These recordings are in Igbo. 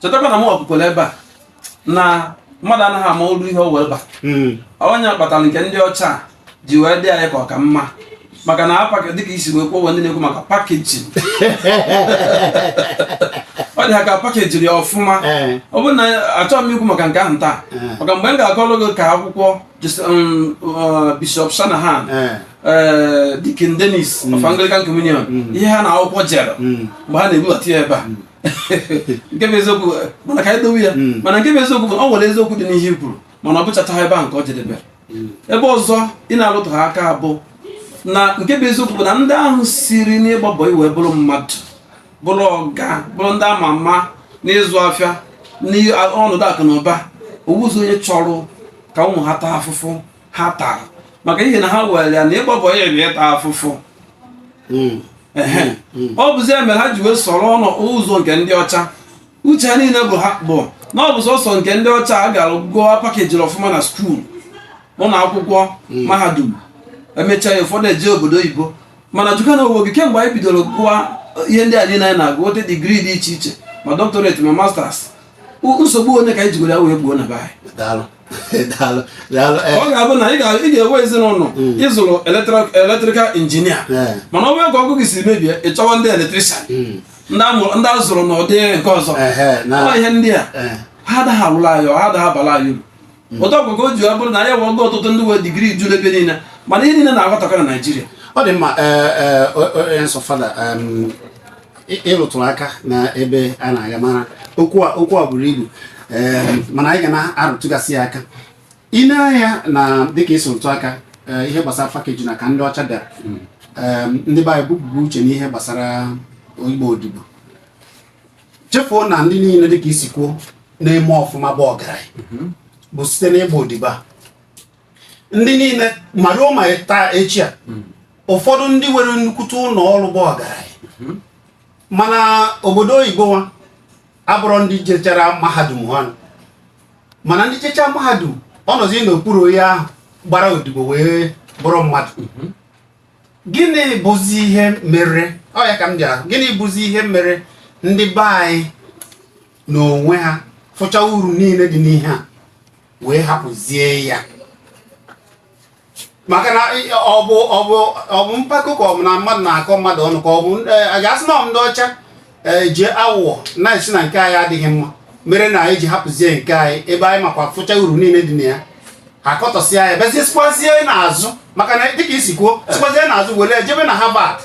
chetakwa na m kwukwara ebe a na mmadụ anaghị ama uru ihe o nwere bara hmm. ọ ya kpatara nke ndị ọcha ji wee dị anyị ka ọ ka mma maka na apaka dịka i si wee kwuo ndị na-ekwu maka pakeji ọ dị ha ka pakejiri ya ọfụma eh. ọ bụrụ na achọghị m ikwu maka nke ahụ taa eh. maka mgbe m ga-akọrọ gị ka akwụkwọ um, uh, bishọp shanahan eh. Dikin Dennis of hmm. Anglican Communion hmm. ihe ha na akwụkwọ jere hmm. mgbe ha na-ebubata ya ebe a nke bụ eziokwu mana ka anyị dowe ya hmm. mana nke bụ eziokwu bụ ọ nwere eziokwu dị n'ihe i kwuru mana ọ bụchaghị ebe a ka ọ jedebere hmm. ebe ọzọ ị na-alụtụha aka bụ na nke bụ eziokwu bụ na ndị ahụ siri n'ịgba bọị wee bụrụ mmadụ bụrụ ọga bụrụ ndị ama ama n'ịzụ afịa n'ọnọdụ akụ na ụba o nwezi onye chọrọ ka ụmụ ha taa afụfụ ha tara maka ihe na ha were ya na ịgba bọị bụ ịta afụfụ hmm. Hmm. ọ bụzi ya mere ha ji wee soro n'ụzọ nke ndị ọcha uche ha niile bụ ha bụ na ọ bụ sọsọ nke ndị ọcha a gara gụọ pakejiri ọfụma na skuul ụlọ akwụkwọ hmm. mahadum emechaa ya ụfọdụ eje obodo oyibo mana jụkwa onwe gị kemgbe anyị bidoro gụwa ihe ndị a niile anyị na-agụ nwete digrii dị iche iche ma doctorate ma masters nsogbu one ka anyị jigoro ya wee gboo na be anyị Eh. ọ ga-abụ na ị ga-enwe ezinụlọ hmm. ị zụrụ eletrikal injinia eh. mana ọ bụrụ ka ọkụ gị si mebie ị chọwa ndị eletrikshan hmm. ndị a zụrụ n'ụdị nke ọzọ eh, ihe ndị a ha adaghị alụla anyị ha adaghị abala anyị uru hmm. otu ọgwụgwọ o ji ọ bụrụ na anyị nwego ọtụtụ ndị nwe digiri ju n'ebe niile mana ihe niile na-aghọtakọ na naijiria ọ dị mma nsọ fada ị rụtụrụ aka na ebe a na-aga mara okwu a buru ibu mana anyị ga na-arụtụgasị ya aka i nee anya na dịka i si rụtụ aka e, ihe gbasara pakeji na ka ndị ọcha bịara hmm. ndị be anyị bupụrụ uche n'ihe gbasara ịgba odibo chefuo na ndị niile dịka i si kwuo na-eme ọfụma bụ ọgaranya mhm. bụ site n'ịgba odibo a ndị niile ma ruo ma taa echi a mhm. ụfọdụ ndị nwere nnukwute ụlọ ọrụ bụ ọgaranya mhm. ma n'obodo oyibo nwa abụrọ ndị jechara mahadum ha mana ndị jechaa mahadum ọ nọzi n'okpuru onye ahụ gbara odibo wee bụrụ mmadụ gịnị bụzi ihe mere ọ ya ka m bịara gịnị bụzi ihe mere ndị be anyị n'onwe ha fụcha uru niile dị n'ihe a wee hapụzie ya maka na ọ bụ ọ bụ ọ bụ mpako ka ọ bụ na mmadụ na-akọ mmadụ ọnụ ka ọ bụ a ga-asị na ọ bụ ndị ọcha ee ji aghụghọ na-asị na nke anyị adịghị mma mere na anyị ji hapụzie nke anyị ebe anyị makwa fụcha uru niile dị na ya akọtọsịa ya bịazie sikwazie n'azụ maka na dịka isi kwuo sikwazie n'azụ were jebe na Harvard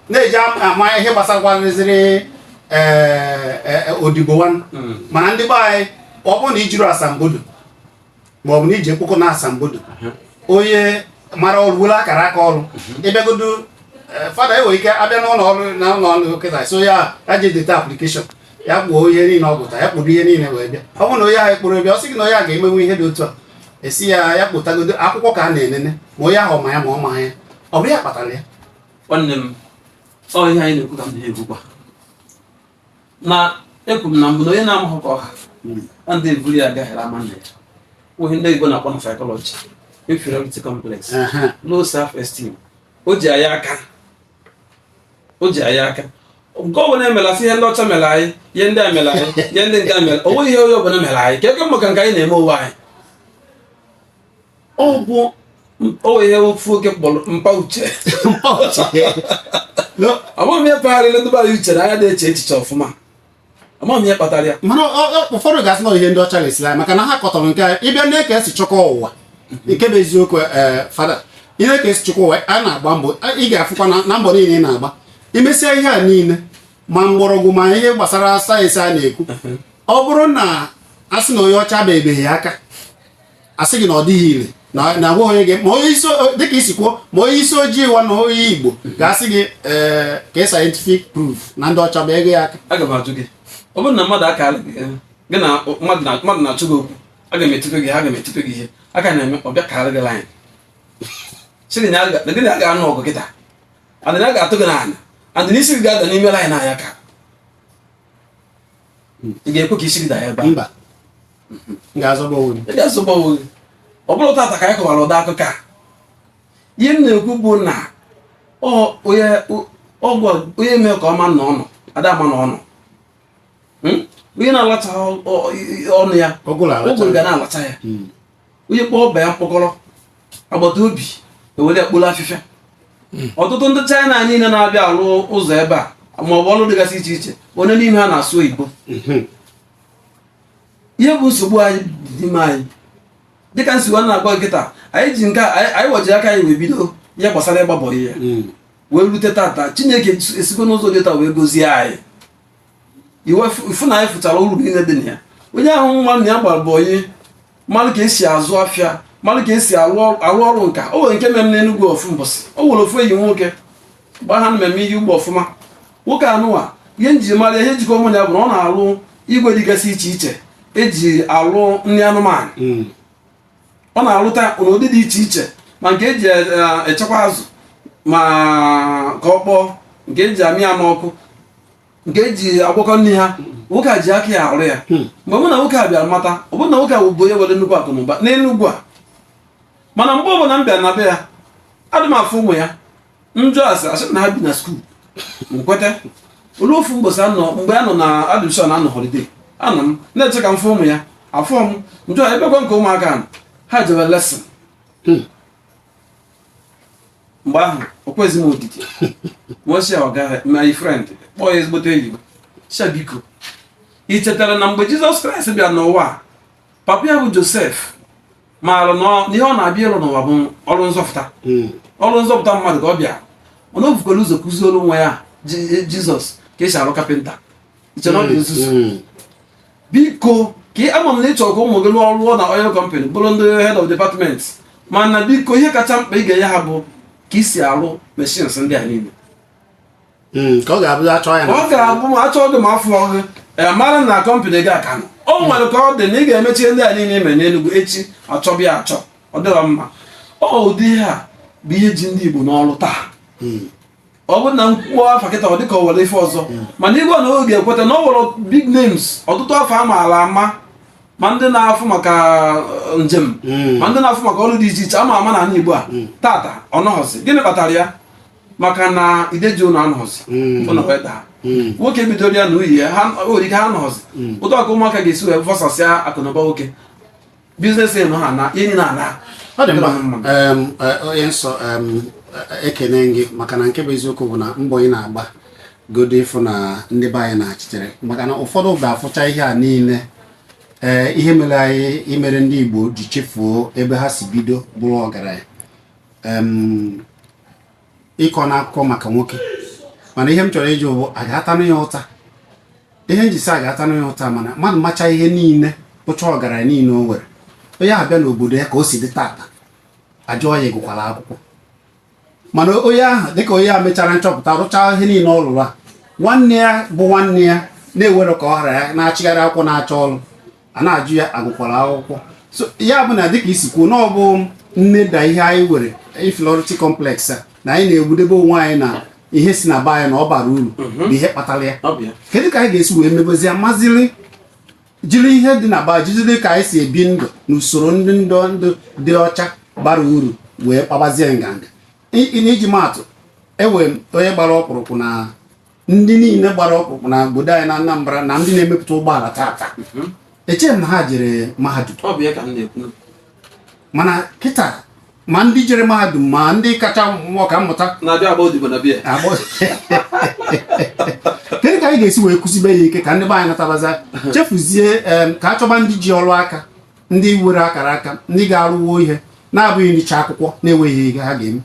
na-eje amụ ihe gbasakwarịzịrị ee odibo nwanne mana ndị be anyị ọ bụrụ na ijiro asambodo ma ọ bụ na iji mkpụkụ na asambodo onye mara ọrụ were akara aka ọrụ ịbịagodo eh, fada enwere ike abịa n'ụlọ ọrụ na ụlọ ọrụ kịta sị ya ya je deta aplikeshọn ya kporo ihe niile ọ gụta ya kporo ihe niile wee bịa ọ bụrụ na onye ahụ ekporo bịa ọ sị gị na onye a ga-emenwu ihe dị otu a asị ya ya kpọtagodu akwụkwọ ka a na-enene ma onye ahụ ma ya ma ọ ma ya ọ bụ ya kpatara ya nwanne m ọ ihe anyị na-ekwu ka m na-ekwukwa na ekwuru m na mbụ na onye na-amaghị ka ọ ha na ndị eburu ya gafere ama nna ya nwere ihe ndị Igbo na-akpọ na psychology inferiority complex low self esteem o ji anyị aka o ji anyị aka nke ọ bụ na emela sị ihe ndị ọcha mere anyị ihe ndị a mere anyị ihe ndị nke a mere o nweghị ihe onye ọbụla mere anyị ka ego maka nke anyị na-eme onwe anyị ọ bụ o nwee ihe ofu onye kpọrọ mpa uche amaghị m ihe pagharịla ndị be anyị uche na anyị na-eche echiche ọfụma amaghị m ihe kpatara ya mana ọ- ọ- ụfọdụ ga-asị na ihe ndị ọcha resịrị anyị maka na ha kọtọrọ nke a ịbịa na ka esi chọkwa ụwa nke bụ eziokwu ee fada ihe ka esi chọkwa ụwa a na-agba mbọ a- ị ga-afụkwa na- na mbọ niile ị na-agba imesịa ihe a niile ma mgbọrọgwụ ma ihe gbasara sayensị a na-ekwu ọ bụrụ na a sị na onye ọcha ebibeghị aka asị gị na ọ dịghị ire na agwa onye gị ma onye isi dịka isi kwuo ma onye isi ojii wa na onye igbo ga-asị gị ee eh, kee scientific proof na ndị ọcha biego ya aka aga m ajụ gị ọ bụrụ na mmadụ aka eh, gị na mmadụ na-achọ gị okwu aga m etupe gị aga m etupe gị ihe aka na-eme ọ bịa kaara gị laịn sị gị na gị na ya ga-anụ ọgụ kịta and na ga-atụ gị n'ana and na isi gị ga-ada n'ime laịn a ya ka ị ga-ekwe ka isi gị daa ebe mba m ga-azọba onwe m ị ga-azọba onwe gị ọ bụrọ tata ka a kọbara ụdị akụkọ a ihe m na-ekwu bụ na onye mee ka a ma na ọ nọ ada ama na ọ nọ hmm? onye na-alacha ọnụ ya ụgụrụ ga na-alacha ya hmm. onye kpọọ ọba ya mkpọkọrọ agbata obi ewere ya kporo afịfịa hmm. ọtụtụ ndị chaịna niile na-abịa alụ ụzọ ebe a ma ọ bụ ọrụ dịgasị iche iche onye n'ime ha na-asụ oyibo hmm. ihe bụ nsogbu anyị dị n'ime anyị dịka m si wee na-agwa gị kịta anyị ji nke anyị wa jiri aka anyị wee bido ihe gbasara ịgba bọị hmm. wee rute tata chineke esigo n'ụzọ dị etu a wee gozie anyị ị fụ na anyị fụchara uru niile dị na ya onye mara na ya gbara boy onye mara ka esi azụ afịa mara ka esi arụ ọrụ nka o nwere nke mere n'Enugwu ofu mbọsị o nwere ofu enyi m nwoke gbaa ha mmemme iyi ugbo ọfụma nwoke anụwa ihe nji mara ihe jikọ mụ na ya bụ na ọ na-alụ igwe dịgasị iche iche eji alụ nri anụmanụ hmm. ọ na-arụta n'ụdị dị iche iche ma nke eji e, e, echekwa azụ ma ka ọ kpọọ nke eji amị ya n'ọkụ nke eji agwakọ nri ha nwoke a ji aka ya arụ ya hmm. mgbe mụ na nwoke a bịara mata ọ bụrụ na nwoke a bụ onye nwere nnukwu akụ na ụba n'Enugwu a mana mgbe ọbụla m bịara na be ya adị m afụ ụmụ ya m jụọ a sị a sị na ha bi na skuul m kweta o lue ofu mbọsị anọ mgbe a nọ na admission a nọ holiday anọ m na-eche ka m fụ ụmụ ya afụrọ m m jụọ ebekwa nke ụmụaka ahụ ha jere lesson hmm. mgbe ahụ o kwezi m odidi m wee sị ọga my friend kpọọ ya ezigbote enyi m sị ya biko i chetara na mgbe jizọs kraịst bịa n'ụwa papa ya bụ josef maara na ọ- na ihe ọ na-abịa ịlụ n'ụwa bụ ọrụ nzọpụta Mm. ọrụ nzọpụta mmadụ ka ọ bịa mana o bukwara ụzọ kụzielụ nwa ya Ji- jizọs ka esi arụ kapịnta i che na ọ bụ nzuzu Mm. biko ka ị ama m na ị chọrọ ka ụmụ gị lụọ ọrụ rụọ na oil company bụrụ ndị head of department mana biko ihe kacha mkpa ị ga-enye ha bụ ka esi arụ machines ndị a niile hmm, ọ ga-abụ achọọ gị ma afụrọ gị e, mara na kọmpanị gị a ka nọ o nwere ka ọ dị na ị ga-emechi ndị a niile ime n'Enugu echi a chọba ya achọ ọ dịrọ mma ọ ụdị ihe a bụ ihe ji ndị Igbo n'ọrụ taa hmm. ọ bụrụ na m kwuo afa kịta ọ dịka o nwere ife ọzọ hmm. mana ekwe m na ị ga-ekweta na o nwere big names ọtụtụ afa a maara ama ma ndị na-afụ maka uh, njem hmm. ma ndị na-afụ maka ọrụ dị iche iche ama ama na ala Igbo a tata ọ nọghọzi gịnị kpatara ya maka na ide ji ụlọ anọzi hmm. ụlọ adaa hmm. nwoke bidoro ya na uyi ya ha nwere ike ha nọzi hmm. ọ dị ka ụmụaka ga-esi wee fọsasịa akụnụba nwoke biznes nọ ha na enyi na ala ọ dị mma e, onye nsọ e, ekene gị maka na nke bụ eziokwu bụ na mbọ ị na-agba godo ịfụ na ndị be anyị na-echeta maka na ụfọdụ ga-afụcha ihe a niile ee ihe mere anyị ihe mere ndị Igbo ji chefuo ebe ha si bido bụrụ ọgaranya ị kọọna akụkọ maka nwoke mana ihe m chọrọ ịjụ bụ a ga-atanụ ya ụta ihe m ji sị a ga-atanụ ya ụta mana mmadụ macha ihe niile bụchaa ọgaranya niile o nwere onye ahụ bịa n'obodo ya ka o si dị tata a jụọ ya ị gụkwara akwụkwọ mana onye ahụ dịka onye a mechara nchọpụta rụchaa ihe niile ọ rụrụ a nwanne ya bụ nwanne ya na-ewere ka ọ ghara ya na-achịgharị akwụkwọ na-achọ ọrụ a na-ajụ ya a gụkwara akwụkwọ so ya bụ na dịka i si kwuo na ọ bụ nneda ihe anyị nwere inferiority complex a na anyị na-egwudebe onwe anyị na ihe si na be anyị na ọ barọ uru mhm. bụ ihe kpatara ya kedu ka anyị ga-esi wee mebezie maziri jiri ihe dị na be anyị jiri ka anyị si ebi ndụ na usoro ndị ndụ ndụ dị ọcha bara uru wee kpabazie nganga n'iji maa atụ e nwere onye gbara ọkpụrụkpụ na ndị niile gbara ọkpụrụkpụ na obodo anyị na Anambra na ndị na-emepụta ụgbọala tata mhm. echeghị m na ha jere mahadum mana kịta ma ndị jere mahadum ma ndị kacha bụ ọka mmụta kedu ka anyị ga-esi wee kụzibe ya ike ka ndị be anyị natabazie chefuzie ka a chọba ndị ji ọrụ aka ndị nwere akara aka ndị ga-arụwa ihe na-abụghị ịgụcha akwụkwọ na-enweghị ihe ha ga-eme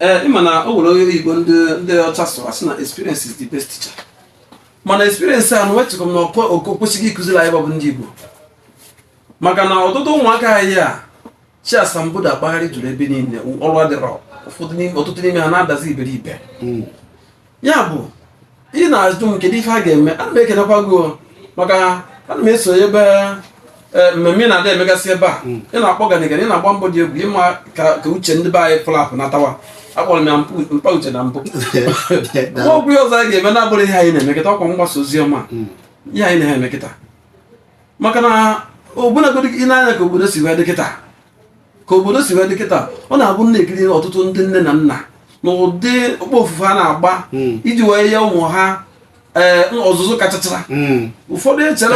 ee ị ma na o nwere onye oyibo ndị ndị ọcha sụrụ a sị na experience is the best teacher mana experience a na wetụrụ m na ọkọ oke kwesịghị ịkụziri anyị nwa bụ ndị igbo maka na ọtụtụ ụmụaka anyị a chị asambodo akpagharị juru ebe niile ọrụ adịrọ ụfọdụ n'ime ọtụtụ n'ime ha na-adazi iberibe ya bụ ị na-ajụ m kedu ife a ga-eme ana m ekenekwa gị maka ana m eso ebe e, mmemme na-adị emegasị ebe a hmm. ị na-akpọ ganigani ị na-agba mbọ dị egwu ime ka uche ndị be anyị flapụ natawa akpọrọ m ya mkpa uche na mbụ nwa okwu ya ọzọ anyị ga-eme na-abụrụ ihe anyị na-eme kịta ọ kwa mgbasa ozi ọma hmm. ihe anyị na-eme kịta maka na ọbụnagodi i nee anya ka obodo si wee dị kịta ka obodo si wee dị kịta ọ na-abụ m na-ekiri ọtụtụ ndị nne na nna na ụdị okpofufu ha na-agba hmm. iji wee nye ụmụ ha eh, ọzụzụ kachachara hmm. ụfọdụ echere